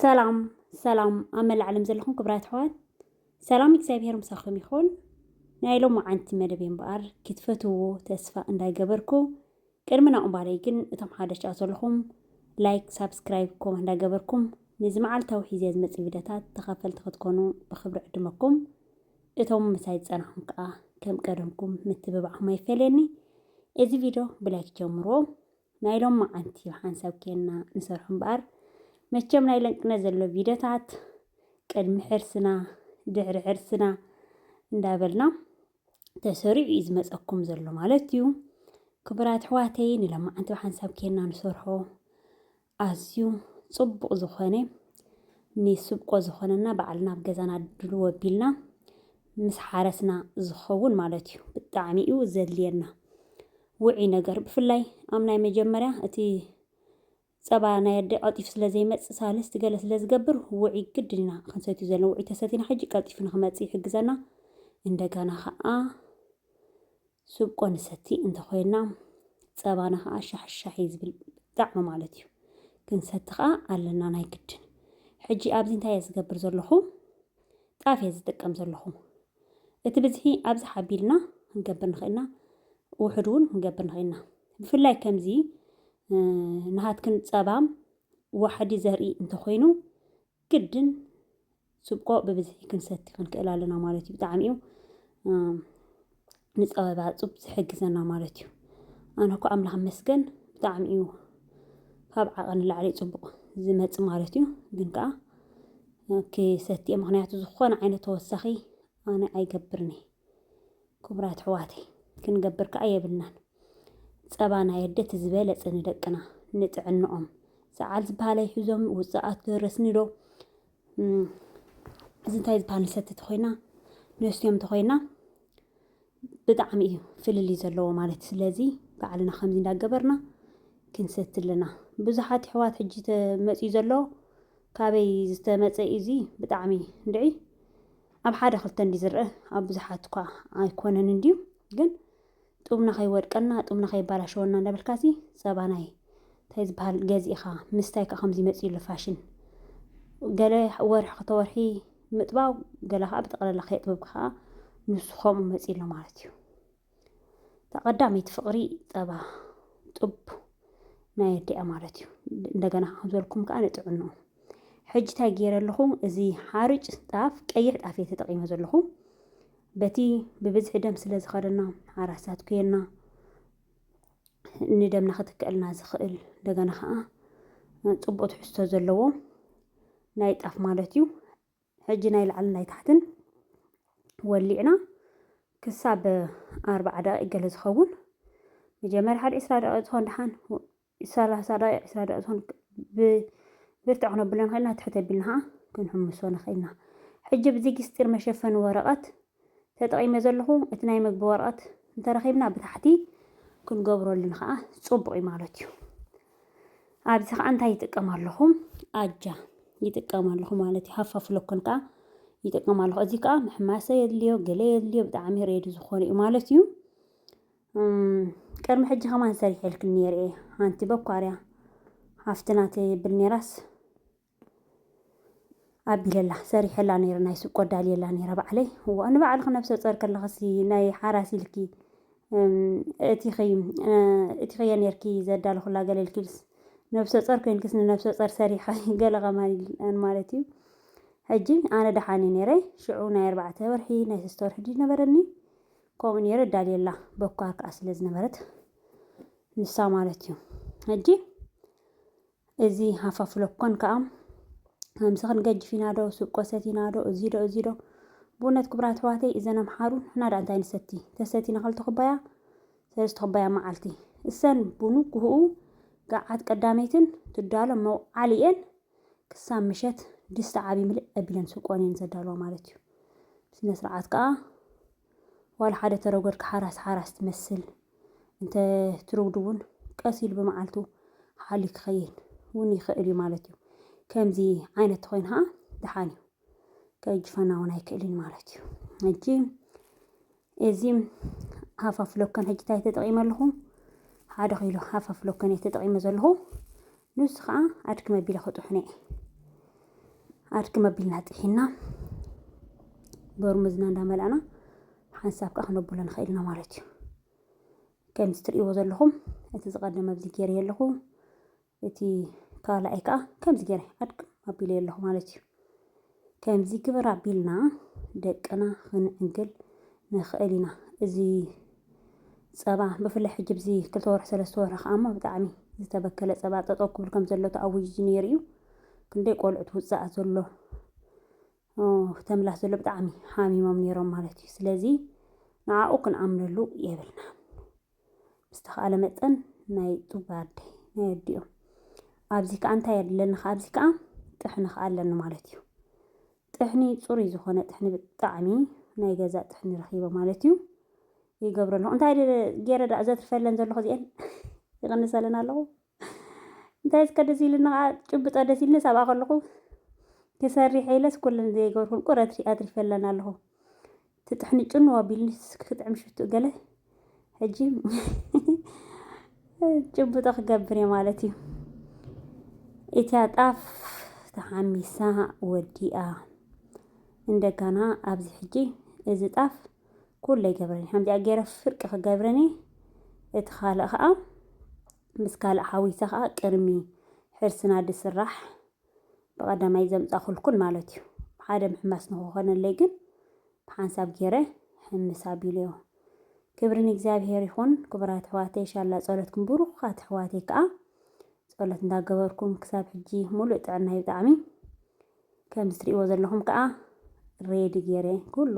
ሰላም ሰላም ኣብ መላእ ዓለም ዘለኹም ክብራት ኣሕዋት ሰላም እግዚኣብሄር ምሳኹም ይኹን። ናይ ሎሚ ዓንቲ መደብ እምበኣር ክትፈትዎ ተስፋ እንዳይገበርኩ ቅድሚ ናብኡ ምባለይ ግን እቶም ሓደሽ ኣብኡ ዘለኹም ላይክ ሳብስክራይብ ኮመንት እንዳገበርኩም ነዚ መዓልታዊ ሒዘ ዝመጽእ ቪድዮታት ተኸፈልቲ ክትኮኑ ብኽብሪ ዕድመኩም እቶም ምሳይ ዝጸናኹም ከኣ ከም ቀደምኩም ምትብባዕኩም ኣይፈለየኒ እዚ ቪድዮ ብላይክ ጀምሮ ናይ ሎም መዓንቲ ሓንሳብ ኬና ንሰርሑ እምበኣር መቸም ናይ ለንቅነት ዘሎ ቪድዮታት ቅድሚ ሕርስና ድሕሪ ሕርስና እንዳበልና ተሰሪዑ እዩ ዝመፀኩም ዘሎ ማለት እዩ። ክቡራት ኣሕዋተይ ንለማዓንቲ ብሓንሳብ ኬና ንሰርሖ ኣዝዩ ፅቡቕ ዝኾነ ንስብቆ ዝኾነና ባዕልና ኣብ ገዛና ድልዎ ኣቢልና ምስ ሓረስና ዝኸውን ማለት እዩ። ብጣዕሚ እዩ ዘድልየና ውዒ ነገር ብፍላይ ኣብ ናይ መጀመርያ እቲ ጸባ ናይ ኣደ ቀልጢፉ ስለ ዘይመጽእ ሳልስት ገለ ስለ ዝገብር ውዑይ ግድን ኢና ክንሰትዩ ዘለና ውዑይ ተሰቲና ሕጂ ቀልጢፉ ንክመጽእ ይሕግዘና እንደገና ከኣ ስብቆ ንሰቲ እንተ ኮይና ጸባና ከኣ ሻሕሻሕ እዩ ዝብል ብጣዕሚ ማለት እዩ ክንሰቲ ከኣ ኣለና ናይ ግድን ሕጂ ኣብዚ እንታይ እየ ዝገብር ዘለኹ ጣፍ እየ ዝጥቀም ዘለኹ እቲ ብዝሒ ኣብዚ ሓቢልና ክንገብር ንኽእልና ውሕድ እውን ክንገብር ንኽእልና ብፍላይ ከምዚ ናሃትክን ፀባም ዋሕዲ ዘርኢ እንተኾይኑ ግድን ስብቆ ብብዝሒ ክንሰቲ ክንክእል ኣለና ማለት እዩ። ብጣዕሚ እዩ ንፀበባ ዕፁብ ዝሕግዘና ማለት እዩ። ኣነ እኮ ኣምላኽ መስገን ብጣዕሚ እዩ ካብ ዓቐን ንላዕሊ ፅቡቕ ዝመፅ ማለት እዩ። ግን ከዓ ክሰትየ ምክንያቱ ዝኾነ ዓይነት ተወሳኺ ኣነ ኣይገብርን እየ። ክቡራት ኣሕዋተይ ክንገብር ከዓ የብልናን። ፀባ ናይ ኣደ እቲ ዝበለፀ ንደቅና ንጥዕንኦም ሰዓል ዝበሃል ኣይሕዞም ውፃኣት ደረስኒ ዶ እዚ እንታይ ዝበሃል ንሰቲ ተኾይና ነስትዮም ተኾይና ብጣዕሚ እዩ ፍልልይ ዘለዎ ማለት ስለዚ ባዕልና ከምዚ እንዳገበርና ክንሰቲ ኣለና ብዙሓት ኣሕዋት ሕጂ ተመፅዩ ዘሎ ካበይ ዝተመፀ እዚ ብጣዕሚ ንድዒ ኣብ ሓደ ክልተ እንዲ ዝርአ ኣብ ብዙሓት እኳ ኣይኮነን እንድዩ ግን ጡብና ከይወድቀና ጡብና ከይባላሸወና እንዳበልካ ሲ ፀባ ናይ እንታይ ዝበሃል ገዚእኻ ምስታይ ከዓ ከምዚ መፅዩሉ ፋሽን ገለ ወርሒ ክተወርሒ ምጥባው ገለ ከዓ ብጠቕላላ ከየጥበብካ ከዓ ንሱ ከምኡ መፅዩሎ ማለት እዩ ተቀዳመይቲ ፍቅሪ ጸባ ጡብ ናይ ኣዲኣ ማለት እዩ እንደገና ከም ዝበልኩም ከዓ ንጥዕንኡ ሕጂ እንታይ ገይረ ኣለኹ እዚ ሓርጭ ጣፍ ቀይሕ ጣፍ እየ ተጠቂመ ዘለኹ በቲ ብብዝሒ ደም ስለ ዝኸደና ሓራሳት ኩየና ንደምና ክትክእልና ዝኽእል እንደገና ከዓ ፅቡቅ ትሕዝቶ ዘለዎ ናይ ጣፍ ማለት እዩ ሕጂ ናይ ላዕልን ናይ ታሕትን ወሊዕና ክሳብ ኣርብዓ ደቂቅ ገለ ዝኸውን መጀመርያ ሓደ ዕስራ ደቂቅ ዝኾን ደሓን ሰላሳ ደቂቅ ዕስራ ደቂቅ ዝኾን ብብርትዕ ክነብሎ ንኽእልና ትሕት ኣቢልና ኸዓ ክንሕምሶ ንኽእልና ሕጂ ብዚጊስጢር መሸፈኒ ወረቐት ተጠቒመ ዘለኹ እቲ ናይ መግቢ ወረቐት እንተረኺብና ብታሕቲ ክንገብረሉ ንኸኣ ጽቡቕ እዩ ማለት እዩ። ኣብዚ ከኣ እንታይ ይጥቀም ኣለኹ? ኣጃ ይጥቀም ኣለኹ ማለት እዩ። ሃፋ ፍሎኮን ከኣ ይጥቀም ኣለኹ። እዚ ከኣ ምሕማሰ የድልዮ፣ ገለ የድልዮ፣ ብጣዕሚ ሬዲ ዝኾነ እዩ ማለት እዩ። ቅድሚ ሕጂ ከማን ሰሪሐልክን ነይረ እየ ሓንቲ በኳርያ ሃፍትና ትብል ነይራስ ኣቢለላ ሰሪሐላ ነይረ ናይ ሱቅ ቆዳልየላ ነይረ ባዕለይ እዋ ንባዕልኺ ነብሰ ጾር ከለኽሲ ናይ ሓራስ ኢልኪ እቲኺ እቲኺ ነርኪ ዘዳልኹላ ገለ ኢልኪልስ ነብሰ ጾር ኮይንክስ ንነብሰ ጾር ሰሪሐ ገለ ከማን ማለት እዩ ሕጂ ኣነ ደሓን እዩ ነይረ ሽዑ ናይ ኣርባዕተ ወርሒ ናይ ሰስተ ወርሒ ድዩ ነበረኒ ከምኡ ነይረ ዳልየላ በኳር ከዓ ስለ ዝነበረት ንሳ ማለት እዩ ሕጂ እዚ ሃፋፍ ሎኮን ከኣ ከምዚ ክንገጅፍ ኢና ዶ ስብቆ ሰቲና ዶ እዚ ዶ እዚ ዶ ብእውነት ክቡራት ኣሕዋተይ እዘን ኣምሓሩ ንሕና ደኣ እንታይ ንሰቲ ተሰቲና ክልተ ኩባያ ሰለስተ ኩባያ መዓልቲ እሰን ብንጉህኡ ገዓት ቀዳመይትን ትዳሎ መውዓሊ እየን ክሳብ ምሸት ድስቲ ዓብዪ ምልእ ኣቢለን ስብቆን እየን ዘዳልዋ ማለት እዩ ስነ ስርዓት ከኣ ዋላ ሓደ ተረጎድካ ሓራስ ሓራስ ትመስል እንተ ትርጉዱ እውን ቀስ ኢሉ ብመዓልቱ ሓልዩ ክኸይድ እውን ይኽእል እዩ ማለት እዩ። ከምዚ ዓይነት ተኾይኑ ኸዓ ደሓን እዩ ከእጅፈና እውን ኣይክእልን ማለት እዩ። ሕጂ እዚ ሃፋፍ ሎከን ሕጂ እንታይ ተጠቒመ ኣለኹ? ሓደ ኪሎ ሃፋፍ ሎከን እየ ተጠቒመ ዘለኹ። ንሱ ከዓ ኣድኪ መቢለ ክጥሑነ እየ ኣድኪ መቢልና ጥሒና በርሙዝና እንዳመላእና ሓንሳብ ከዓ ክነብሎ ንኽእል ኢና ማለት እዩ ከምዚ ትርእይዎ ዘለኹም እቲ ዝቐደመ ኣብዚ ገይረዮ ኣለኹ እቲ ካልኣይ ከዓ ከምዚ ገይረ ኣድኪ ኣቢለዮ ኣለኹ ማለት እዩ ከምዚ ግበር ኣቢልና ደቅና ክንዕንግል ንኽእል ኢና። እዚ ጸባ ብፍላይ ሕጂ ኣብዚ ክልተ ወርሒ ሰለስተ ወርሒ ከኣ እሞ ብጣዕሚ ዝተበከለ ጸባ ጠጠው ክብል ከም ዘሎ ተኣዊጁ ነይሩ እዩ። ክንደይ ቆልዑት ውጻእ ዘሎ ተምላስ ዘሎ ብጣዕሚ ሓሚሞም ነይሮም ማለት እዩ። ስለዚ ንዓኡ ክንኣምነሉ የብልናን። ብዝተኻእለ መጠን ናይ ጡባ ኣደይ ናይ ኣዲኦም ኣብዚ ከዓ እንታይ ኣድለኒ ከዓ ኣብዚ ከዓ ጥሕኒ ከዓ ኣለኒ ማለት እዩ ጥሕኒ ፅሩይ ዝኾነ ጥሕኒ ብጣዕሚ ናይ ገዛ ጥሕኒ ረኺበ ማለት እዩ ይገብረ ኣለኹ እንታይ ገይረ ዳእ ዘትርፈለን ዘለኹ እዚአን ይቕንሰለን ኣለኹ እንታይ እስከ ደስ ኢሉኒ ኸኣ ጭብጦ ደስ ኢሉኒ ሳብኣ ከለኹ ክሰሪሕ ኢለስ ኩለን ዘይገበርኩን ቁር ኣትሪፈለን ኣለኹ ትጥሕኒ ጭኑ ኣቢልኒ ክጥዕም ሽትኡ ገለ ሕጂ ጭብጦ ክገብር እየ ማለት እዩ እቲያ ጣፍ ተሓሚሳ ወዲኣ እንደገና ኣብዚ ሕጂ እዚ ጣፍ ኩሉ ይገብረኒ ከምዚኣ ገይረ ፍርቂ ክገብረኒ እቲ ካልእ ከዓ ምስ ካልእ ሓዊሰ ከዓ ቅድሚ ሕርስና ድስራሕ ብቐዳማይ ዘምፃኹልኩን ማለት እዩ ሓደ ምሕማስ ንክኾነለይ ግን ብሓንሳብ ገይረ ሕምስ ኣቢለዮ ክብሪ ንእግዚኣብሔር ይኹን ክቡራት ኣሕዋተይ ሻላ ጸሎትኩም ብሩኻት ኣሕዋተይ ከዓ ጸሎት እንዳገበርኩም ክሳብ ሕጂ ሙሉእ ጥዕና እዩ ብጣዕሚ ከምዚ ትሪእዎ ዘለኹም ከኣ ሬዲ ጌረ ኩሉ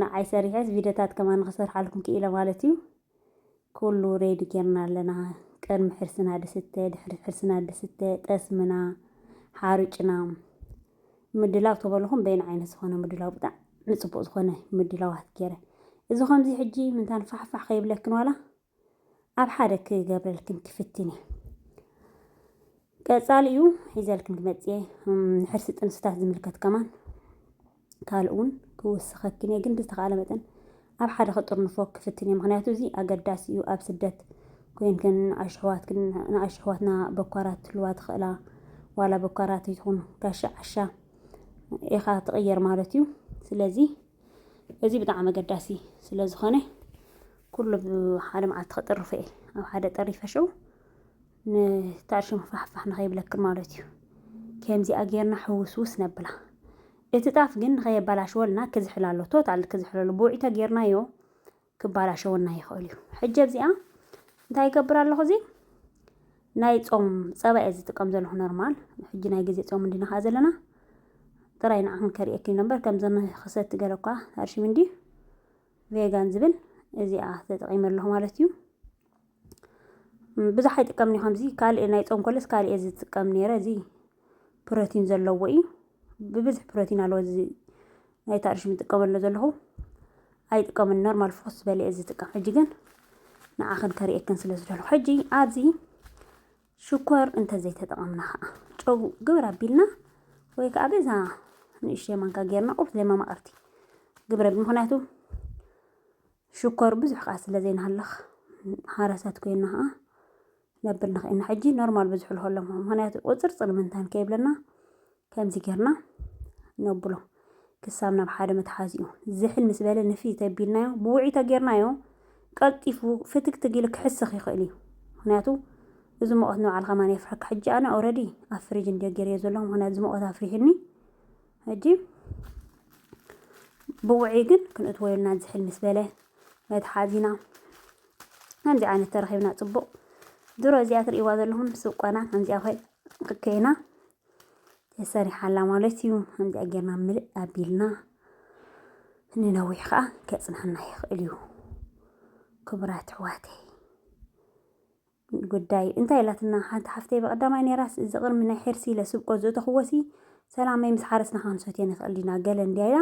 ንዓይ ሰሪሐስ ቪድዮታት ከማን ንኽሰርሓልኩም ክኢለ ማለት እዩ። ኩሉ ሬዲ ጌርና ኣለና ቅድሚ ሕርስና ድስተ ድሕሪ ሕርስና ድስተ ጠስምና ሓሩጭና ምድላው ተበልኹም በይን ዓይነት ዝኾነ ምድላው ብጣዕሚ ጽቡቕ ዝኾነ ምድላዋት ጌረ እዚ ከምዚ ሕጂ ምንታን ፋሕፋሕ ከይብለክን ዋላ ኣብ ሓደ ክገብረልክን ክፍትን እየ ቀጻሊኡ ሒዘልክን ክመጽእ እየ ንሕርሲ ጥንስታት ዝምልከት ከማን ካልእ እውን ክውስኸክን እየ ግን ብዝተኻእለ መጠን ኣብ ሓደ ክጥርንፎ ክፍትን እየ ምክንያቱ እዚ ኣገዳሲ እዩ ኣብ ስደት ኮይንክን ንኣሽሕዋትክን ንኣሽሕዋትና በኳራት ትልዋ ትኽእላ ዋላ በኳራት ይኹኑ ጋሻ ዓሻ ኢኻ ትቕየር ማለት እዩ ስለዚ እዚ ብጣዕሚ ኣገዳሲ ስለ ዝኾነ ኩሉ ሓደ መዓልቲ ከጥርፎ እየ ኣብ ሓደ ጠሪፈ ሽዑ ንታዕሽሙ ፋሕፋሕ ንኸይብለክን ማለት እዩ ከምዚኣ ጌርና ሕውስውስ ነብላ እቲ ጣፍ ግን ንኸየባላሽወልና ክዝሕል ኣሎ ቶታል ክዝሕለሉ ብውዒ ተጌርናዮ ክባላሸወና ይኽእል እዩ። ሕጂ ኣብዚኣ እንታይ ይገብር ኣለኹ እዚ ናይ ጾም ጸባ እየ ዝጥቀም ዘለኹ ኖርማል። ሕጂ ናይ ግዜ ጾም እንዲና ከኣ ዘለና ጥራይ ንዓኹም ከርእየኪ ነበር ከምዚ ክሰቲ ገለ እኳ ኣርሽሚ እንዲ ቬጋን ዝብል እዚኣ ተጠቒመ ኣለኹ ማለት እዩ። ብዙሕ ኣይጥቀምን እየ ከምዚ ካልእ ናይ ጾም ከሎስ ካልእ እየ ዝጥቀም ኔረ እዚ ፕሮቲን ዘለዎ እዩ ብብዝሒ ፕሮቲን ኣለዎ እዚ ናይ ታርሽ ዝጥቀመሉ ዘለኹ ኣይጥቀምን ኖርማል ፎስ ዝበለ እየ ዝጥቀም ሕጂ ግን ንዓኽን ከርእየክን ስለ ዝደለኹ ሕጂ ኣብዚ ሽኮር እንተዘይተጠቐምና ከዓ ጨው ግብር ኣቢልና ወይ ከዓ በዛ ንእሽተይ ማንካ ጌርና ቁርስ ዘይ መማቕርቲ ግብረ ብምክንያቱ ሽኮር ብዙሕ ከኣ ስለ ዘይንሃልኽ ሃረሳት ኮይና ከኣ ነብል ንኽእልና ሕጂ ኖርማል ብዙሕ ልኸሎም ምክንያቱ ቁጽርጽር ምንታን ከይብለና ከምዚ ጌርና ነብሎ ክሳብ ናብ ሓደ መትሓዚኡ ዝሕል ምስ በለ ንፍይ ተቢልናዮ ብውዒ ተጌርናዮ ቀልጢፉ ፍትግትግ ኢሉ ክሕስኽ ይኽእል እዩ ምክንያቱ እዚ ሙቐት ንባዕልኻ ማን የፍርሐካ ሕጂ ኣነ ኦረዲ ኣብ ፍሪጅ እንድዮ ጌርዮ ዘለኹ ምክንያቱ እዚ ሙቐት ኣፍሪሕኒ ሕጂ ብውዕይ ግን ክንእትዎ የብልናን ዝሕል ምስ በለ መትሓዚና ከምዚ ዓይነት ተረኺብና ጽቡቕ ድሮ እዚኣ ትርእይዋ ዘለኹም ሱቅ ቆና ከምዚኣ ኮይ ኮይና ተሰሪሓ ኣላ ማለት እዩ ከምዚኣ ጌርና ምልእ ኣቢልና ንነዊሕ ከዓ ከጽናና ይኽእል እዩ ክቡራት ኣሕዋተይ ጉዳይ እንታይ ኢላትና ሓንቲ ሓፍተይ ብቀዳማይ ነይራስ እዚ ቅርሚ ናይ ሕርሲ ኢለ ስብቆ ዝእተኽዎሲ ሰላመይ ምስ ሓረስና ክንሰትዮ ንኽእል ዲና ገለ እንድያ ኢላ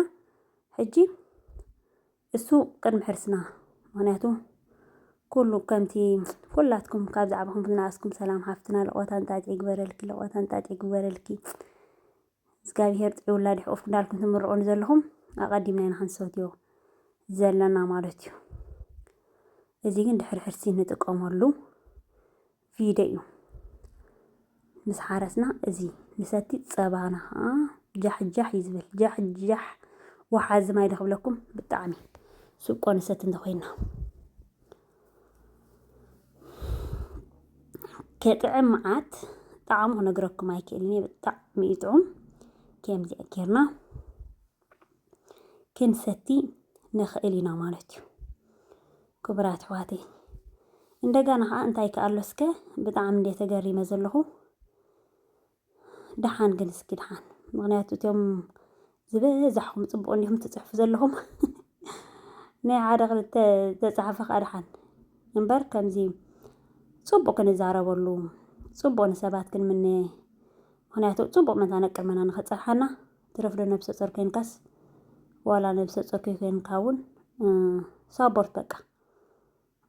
ሕጂ እሱ ቅድሚ ሕርስና ምክንያቱ ኩሉ ከምቲ ኩላትኩም ካብ ዛዕባኹም ዝነኣስኩም ሰላም ሓፍትና ልቆታ እንጣጢዕ ይግበረልኪ ልቆታ እንጣጢዕ ይግበረልኪ እዝጋቢሄር ጥዑይ ውላድ ይሕቁፍኩም ዳልኩም ትምርቁኒ ዘለኹም ኣቀዲምና ኢና ክንሰትዮ ዘለና ማለት እዩ። እዚ ግን ድሕሪ ሕርሲ ንጥቀመሉ ቪደ እዩ። ምስ ሓረስና እዚ ንሰቲ ፀባና ከዓ ጃሕጃሕ እዩ ዝብል ጃሕጃሕ ወሓዚ ማይ ዶ ክብለኩም ብጣዕሚ ስብቆ ንሰቲ እንተኮይና ክጥዕም መዓት ጣዕሙ ክነግረኩም ኣይክእልን እየ ብጣዕሚ እዩ ጥዑም ከምዚ ጌርና ክንሰቲ ንኽእል ኢና ማለት እዩ ክቡራት ኣሕዋተይ እንደገና ከዓ እንታይ ከኣሎ እስከ ብጣዕሚ እንደ ተገሪመ ዘለኹ ደሓን ግን እስኪ ደሓን ምክንያቱ እትም ዝበዛሕኹም ፅቡቅ እንዲኹም ትፅሕፉ ዘለኹም ናይ ሓደ ክልተ ተፃሓፈ ከዓ ደሓን እምበር ከምዚ ፅቡቅ ክንዛረበሉ ፅቡቅ ንሰባት ክንምነ ምክንያቱ ፅቡቅ መታ ነቅርመና ንክፀርሓና ትረፍዶ ነብሰ ፆር ኮይንካስ ዋላ ነብሰ ፆር ከይኮንካ እውን ሳቦርት በቃ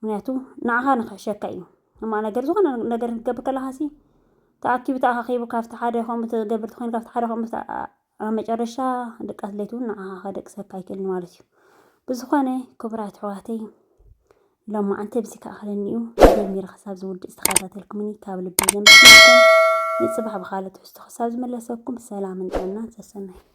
ምክንያቱ ንዓኻ ንክሕሸካ እዩ እማ ነገር ዝኾነ ነገር ክትገብር ከለኻሲ ተኣኪቡ ተኣኻኺቡ ካብቲ ሓደ ከምኡ ትገብር ትኾይኑ ካብቲ ሓደ ከምኡ ኣብ መጨረሻ ድቃስ ለይቲ እውን ንዓኻ ከደቅሰካ ኣይክእልን ማለት እዩ ብዝኾነ ክቡራት ኣሕዋተይ ሎማዓንቲ ብዚ ከኣኸለኒ እዩ ጀሚረ ክሳብ ዝውድእ ዝተኸታተልኩምኒ ካብ ልቢ ዘመስግነኩም ንፅባሕ ብካልእ ትሕዝቶ ክሳብ ዝመለሰኩም ሰላምን ጥዕናን ሰሰናይ